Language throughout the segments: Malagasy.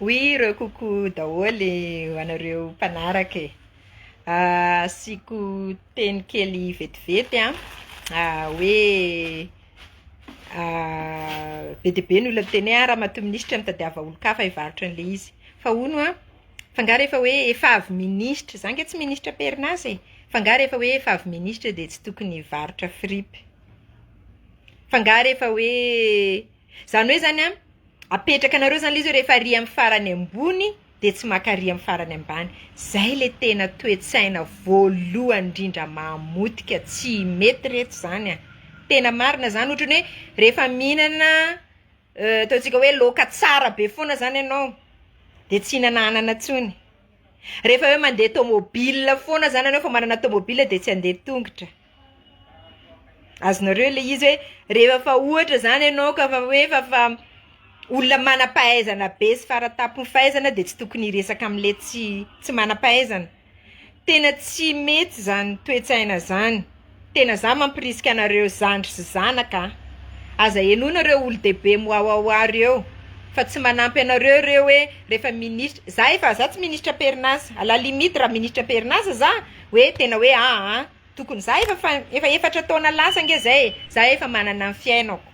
Oui ireo coucou daholo ho anareo mpanaraka e! asiako teny kely vetivety an, hoe be dia be ny olona miteny hoe ramatoa minisitra mitadiava olon-kafa hivarotra an'ilay izy, fa hono an. Fa nga rehefa hoe efa avy ministra, za nga tsy ministra am-perinasa e, fa nga rehefa hoe efa avy ministra dia tsy tokony hivarotra fripy? Fa nga rehefa hoe, izany hoe izany an, apetraka anareo izany ilay izy hoe rehefa ary amin'ny farany ambony dia tsy maka ary amin'ny farany ambany. Izay ilay tena toe-tsaina voalohany indrindra mamotika, tsy mety reto izany an! Tena marina izany, ohatran'ny hoe rehefa mihinana Euh ataontsika hoe loaka tsara be foana zany ianao de tsy hinana anana tsony rehefa hoe mandeha tomobile foana zany ianao efa manana tomobile de tsy handeha tongotra azonareo le izy hoe rehefa ohatra zany ianao ka fa hoe fa fa olona manampahaizana be sy fara tampon'ny fahaizana de tsy tokony hiresaka amle tsy tsy manampahaizana Tena tsy mety zany toetsaina zany, tena za mampirisika anareo zandry sy zanaka a! Aza henoina reo olodehibe miwawawa reo fa tsy manampy anareo reo hoe refa minisitra, za efa za tsy minisitra am-perinasa, à la limite ra minisitra am-perinasa za hoe tena hoe aa tokony za efa fa efa efatra taona lasa nge zay e, za efa manana ny fiainako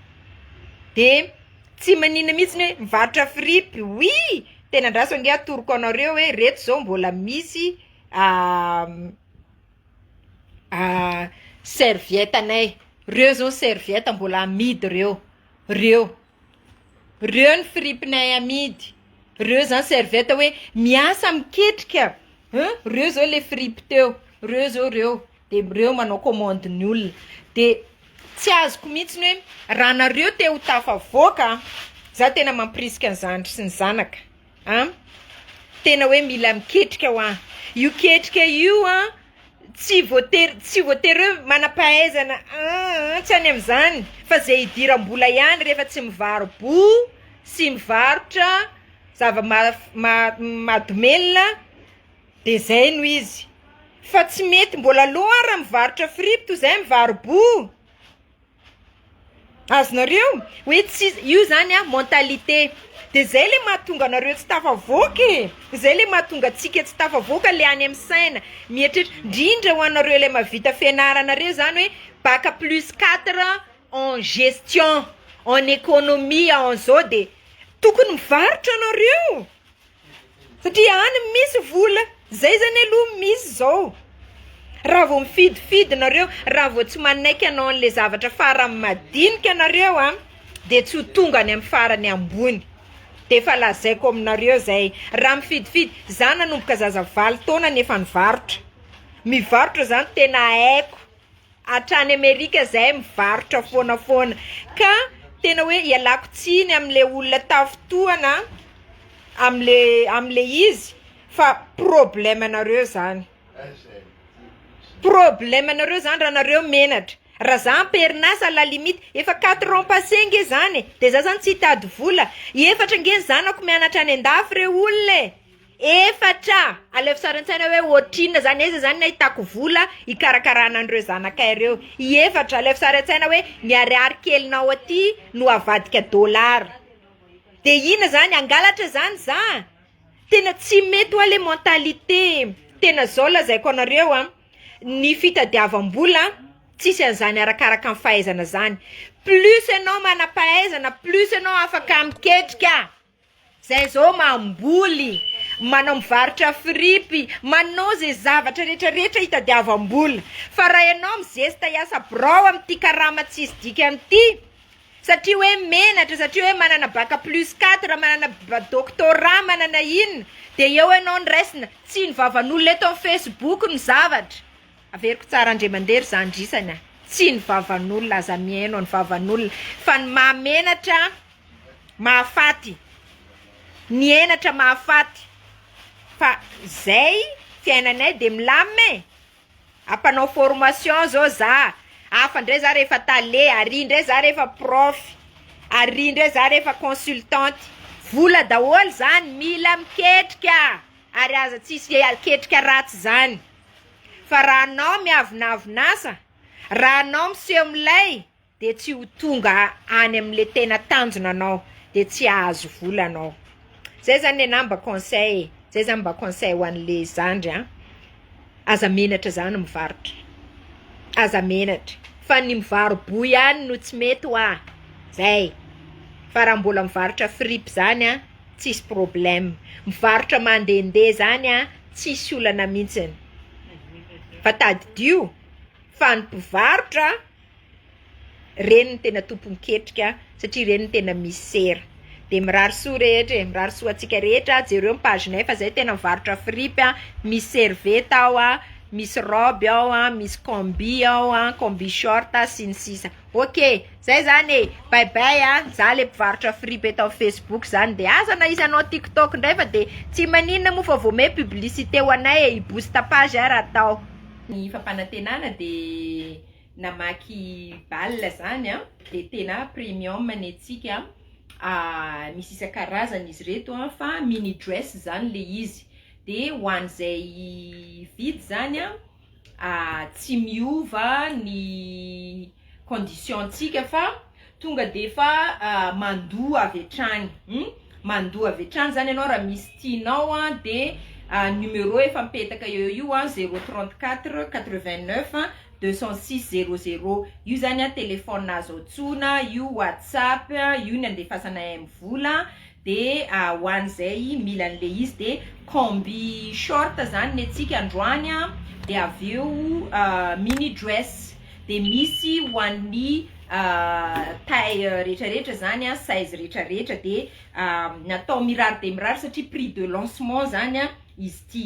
de. Tsy maninona mihitsy ny hoe mivarotra fripy oui tena andraso ange atoroko anareo hoe reto zao mbola misy serviette anay reo zao serviette mbola amidy reo reo reo ny fripinay amidy reo zany serviette hoe miasa miketrika reo zao le fripy teo reo zao reo. de reo manao commande ny olona de tsy azoko mihitsy ny hoe raha nareo te ho tafavoaka a za tena mampirisika ny zandry sy ny zanaka a tena hoe mila miketrika hoa io ketrika io a tsy voatery tsy voatery hoe manampahaizana aa tsy any amizany fa ze idirambola ihany refa tsy mivaro bo sy mivarotra zava- ma- mahadomelina. De zay no izy fa tsy mety mbola lo ara mivarotra fripy toy zay mivaro-bo azonareo hoe tsy io zany a mentalité de zay le mahatonga anareo tsy tafavoaka e zay le mahatonga antsika tsy tafavoaka le any amin'ny saina mieritreritra ndrindra ho anareo le mahavita fianarana reo zany hoe bac plus quatre en gestion en economie en zao de tokony mivarotra anareo. Satria any misy vola. Zay zany aloha misy zao. Raha vao mifidifidy nareo, raha vao tsy manaiky hanao anle zavatra farany madinika nareo a de tsy ho tonga any amin'ny farany ambony. De efa lazaiko aminareo zay. Raha mifidifidy, za nanomboka zaza valo taona nefa nivarotra. Mivarotra zany tena haiko. hatrany amerika zahay mivarotra foana foana ka tena hoe ialako tsiny amle olona tafintohana amle amle izy fa problema nareo zany problema nareo zany raha nareo menatra raha za amperinasa la limite efa quatre ans passe nge zany e de za zany tsy hitady vola efatra nge ny zanako mianatra any andafy re olona e. Efatra, alefa sary an-tsaina hoe ohatrinona zany, aiza zany ny ahitako vola hikarakarana an'ireo zanakay ireo, i efatra, alefa sary an-tsaina hoe ny ariary kelinao aty no avadika dollars, de inona zany hangalatra zany za, tena tsy mety hoa le mentalité e, tena zao lazaiko anareo a, ny fitadiavam-bola tsisy an'izany arakaraka ny fahaizana zany, plus enao manam-pahaizana plus enao afaka miketrika. Zay zao mamboly, manao mivarotra fripy, manao ze zavatra rehetra rehetra hitadiavam bola fa raha enao mizesta hiasa birao am ty karama tsisy dikany ty satria hoe menatra satria hoe manana bac plus quatre manana ba- doctorat manana inona de eo enao no raisina tsy ny vavan' olona eto am facebook no zavatra averiko tsara andriamandeha ry zandry isany a tsy ny vavan' olona aza mihaino ny vavan' olona fa ny maha menatra mahafaty, ny henatra mahafaty fa zay fiainanay de milamina e, ampanao formation zao za, hafa ndray za refa tale, ary ndray za refa prof, ary ndray za refa consultante, vola daholo zany, mila miketrika ary aza tsisy ketrika ratsy zany, fa raha anao miavonavon'asa, raha anao miseho milay. dia tsy ho tonga any amle tena tanjona anao dia tsy hahazo vola anao zay zany le anah mba conseil e zay zany mba conseil ho anle zandry a aza menatra zany mivarotra aza menatra fa ny mivaro boy ihany no tsy mety hoa zay fa raha mbola mivarotra fripy zany a tsisy problema mivarotra mandende zany a tsisy olana mintsiny fa tadidio fa ny mpivarotra Ireny no tena tompon-ketrika satria ireny no tena misera. Dia mirary soa rehetra e, mirary soa antsika rehetra, jereo ny page-nay fa zay tena mivarotra fripy a, misy serviette ao a, misy robe ao a, misy combi ao a, combi short sy ny sisa. Ok, zay zany e, bay bay a, za le mpivarotra fripy eto amin'ny facebook zany de aza na izy hanao tik tok indray fa de tsy maninona moa fa vao miha publicité ho anay e, hi booste page ahy raha atao. Ny fampanantenana dia. namaky bal zany a dia tena premium ny antsika a, misy isan-karazany izy ireto a, fa mini dress zany le izy dia ho an'izay hividy zany a tsy miova ny condition-tsika fa. Tonga dia efa mandoa avy hatrany hum, mandoa avy hatrany zany ianao raha misy tianao an dia numéro efa mipetaka eo io an, zéro trente quatre quatre vingt neuf deux cent six zéro zéro io zany an telephone azo antsoina, io whatsapp, io ny andefasanay amin'ny vola, Dia ho an'izay mila an'ilay izy dia combi short zany ny antsika androany a, dia avy eo mini dress, dia misy ho an'ny taille rehetra rehetra zany a, size rehetra rehetra, dia natao mirary dia mirary satria prix de lancement zany izy ity.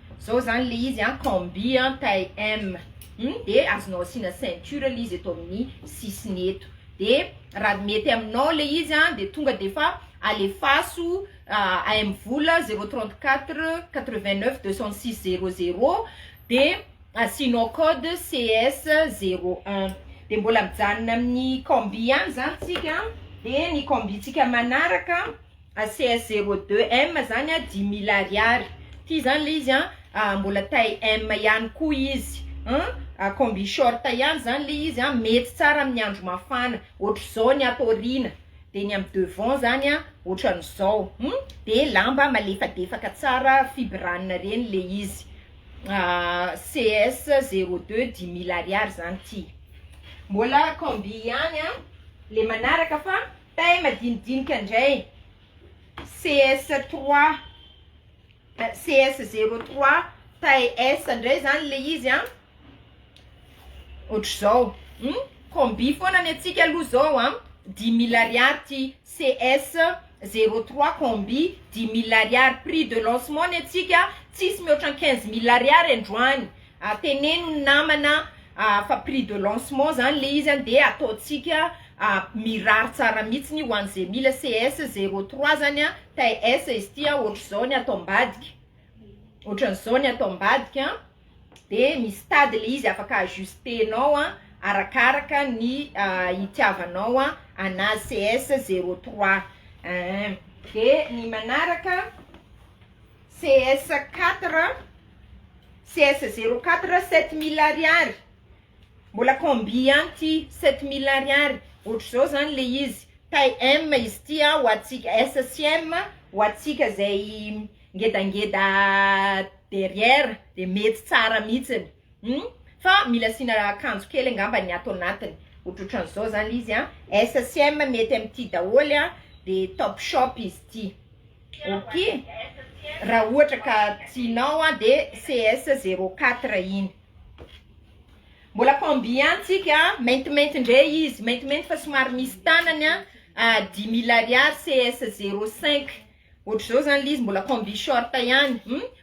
Zao zany le izy an, combi an, taille M hum de azonao asiana ceinture le izy eto amin'ny sisiny eto de raha mety aminao le izy an de tonga de efa alefaso AM vola zero trente quatre quatre vingt neuf deux cent six zero zero de asianao code CS zero un de mbola mijanona amin'ny combi ihany zany tsika de ny combi tsika manaraka ACS zero deux M zany a dimy mille ariary ty zany le izy an mbola taille M ihany koa izy an combi short ihany zany le izy an mety tsara amin'ny andro mafana ohatr'izao ny ato aoriana de ny amin'ny devant zany an ohatran'izao hum de lamba malefadefaka tsara fibrana reny le izy ACS zero deux dimy mille ariary zany ty mbola combi ihany an le manaraka fa Tay madinidinika ndray CS trois CS zero trois tay S ndray zany le izy an otrzao hum combi foana ny antsika aloha zao an dimy mille ariary ty CS zero trois combi dimy mille ariary prix de lancement ny antsika tsisy mihoatra ny quinze mille ariary androany a teneno ny namana a fa prix de lancement zany le izy a de ataontsika a mirary tsara mitsiny ho an'ze mila CS zero trois zany a taille S izy ty a ohatr'izao ny ato ambadika ohatran'izao ny ato ambadika a de misy tady le izy afaka ajustenao a arakaraka ny a itiavanao a anazy CS zero trois un de ny manaraka CS quatre CS zero quatre sept mille ariary mbola combi ihany ty sept mille ariary ohatr'izao zany le izy taille M izy ity a ho antsika S sy M ho antsika zay ngedangeda derrière de mety tsara mihitsiny hum fa mila asiana akanjo kely angamba ny ato anatiny ohatrohatran'izao zany le izy a S sy M mety amin'ity daholo a de top shop izy ity. Ok raha ohatra ka tianao an de CS zero quatre iny. Mbola combien tsika an? Maintimainty ndray izy, maintimainty fa somary misy tanany an, dix mille ariary CS zero cinq. Ohatr'izao zany le izy mbola combi short ihany,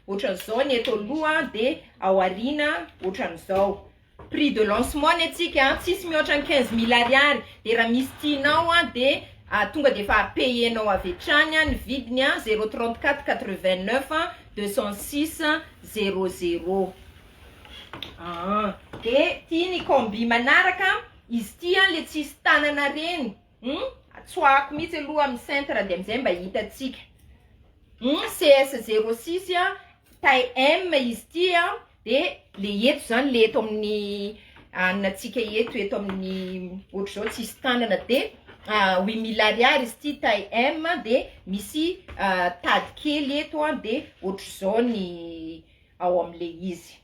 ohatran'izao ny eto aloha de ao aoriana ohatran'izao. Prix de lancement ny antsika an, tsisy mihoatra ny quinze mille ariary, dia raha misy tianao an dia tonga dia efa payer nao avy hatrany an, ny vidiny an zero trente quatre quatre vingt neuf an, deux cent six zero zero aa. Dia ity ny combi manaraka, izy ity an le tsisy tanana reny hum tsoahako mihitsy aloha amin'ny cintre dia amin'izay mba hitantsika hum CS zero six an taille M izy ity an, Dia le eto izany le eto amin'ny anona antsika eto eto amin'ny ohatr'izao tsisy tanana dia huit mille ariary izy ity taille M dia misy tady kely eto an dia ohatr'izao ny ao amin'le izy.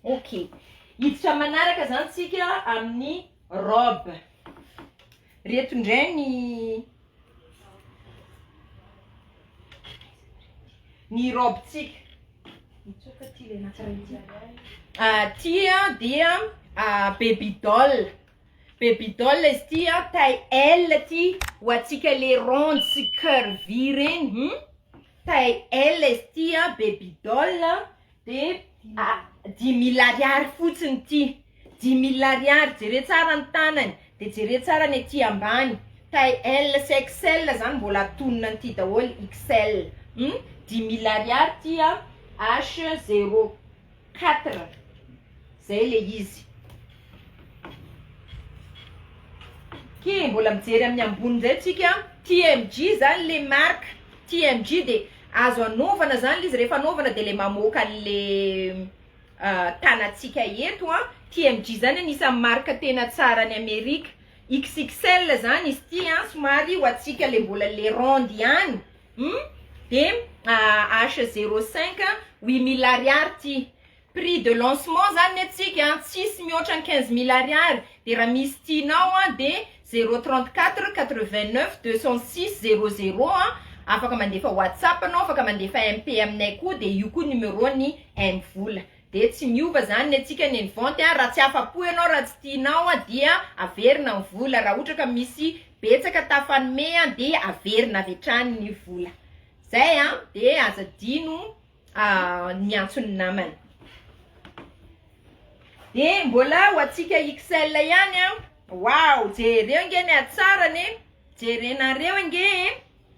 Ok. Hiditra manaraka izany tsika amin'ny robe. Reto indray ny ny raobintsika. Mitsoaka ty le natsarain ty. Ah, ty dia ah, baby doll. Baby doll izy ty a, taille L ty ho antsika le ronde sy curvy reny. Hmm? Taille L izy ty a, baby doll. de dimy mille ariary fotsiny ity dimy mille ariary jere tsara ny tanany de jere tsara ny aty ambany taille L sy XL zany mbola atonina an'ity daholo XL dimy mille ariary ity a H zero quatre Zay le izy. Ki mbola mijery amin'ny ambony indray tsika TMJ zany le marque TMJ de azo anaovana zany le izy rehefa anaovana de le mamoaka anle tanatsika eto an TMJ zany anisan'ny marque tena tsara any Amerika XXL zany izy ty an somary ho atsika le mbola le ronde ihany hum de H05 huit mille ariary ty Prix de lancement zany ny antsika an, tsisy mihoatra ny quinze mille ariary, dia raha misy tianao an dia zéro trente quatre quatre vingt neuf deux cent six zéro zéro an, afaka mandefa whatsapp anao, afaka mandefa MP aminay koa, dia io koa numéro ny M-vola. Dia tsy miova zany ny antsika ny vente an, raha tsy afapo ianao, raha tsy tianao an dia averina ny vola, raha ohatra ka misy betsaka tafanome an dia averina avy hatrany ny vola. Zay an, dia aza adino. Ahh niantso ny namany. De mbola ho antsika XL ihany an. Waouh, jereo nge ny hatsarany e. Jerenareo nge e.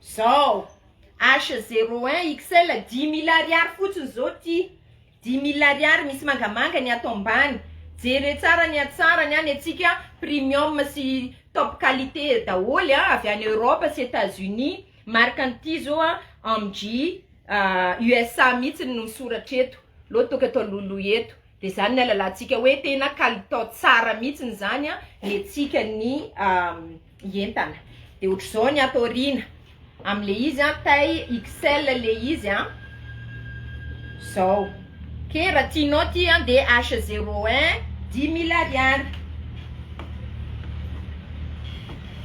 Zao. H01 XL 10000 ariary fotsiny zao ty. 10000 ariary misy mangamanga ny ato ambany. Jereo tsara ny hatsarany an, ny antsika premium sy top qualité daholo an, avy any Europe sy Etats Unis. Marque an'ity zao an, MJ. USA mihitsy no soratra eto, lô toaka atao lolo eto, de zany ny alalantsika hoe tena kalitao tsara mihitsy zany an ny antsika ny entana, de otrzao ny ato aoriana amle izy an taille XL le izy an, zao ok raha tianao ty an de H zero un dimy mille ariary,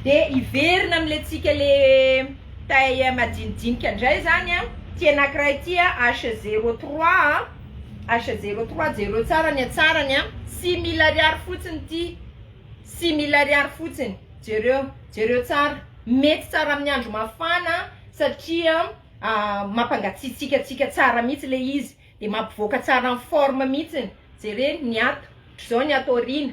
de hiverina amle tsika le. TAEM Majinijinika indray izany an! Ity anankiray ity an, H zero trois an, H zero trois, jereo tsara ny hatsarany an! Six mille ariary fotsiny ity, six mille ariary fotsiny, jereo, jereo tsara, mety tsara amin'ny andro mafana satria mampangatsiatsiakatsiaka tsara mihitsy ilay izy dia mampivoaka tsara ny forme mihitsy, jereo ny ato, ohatran'izao ny ato aoriana,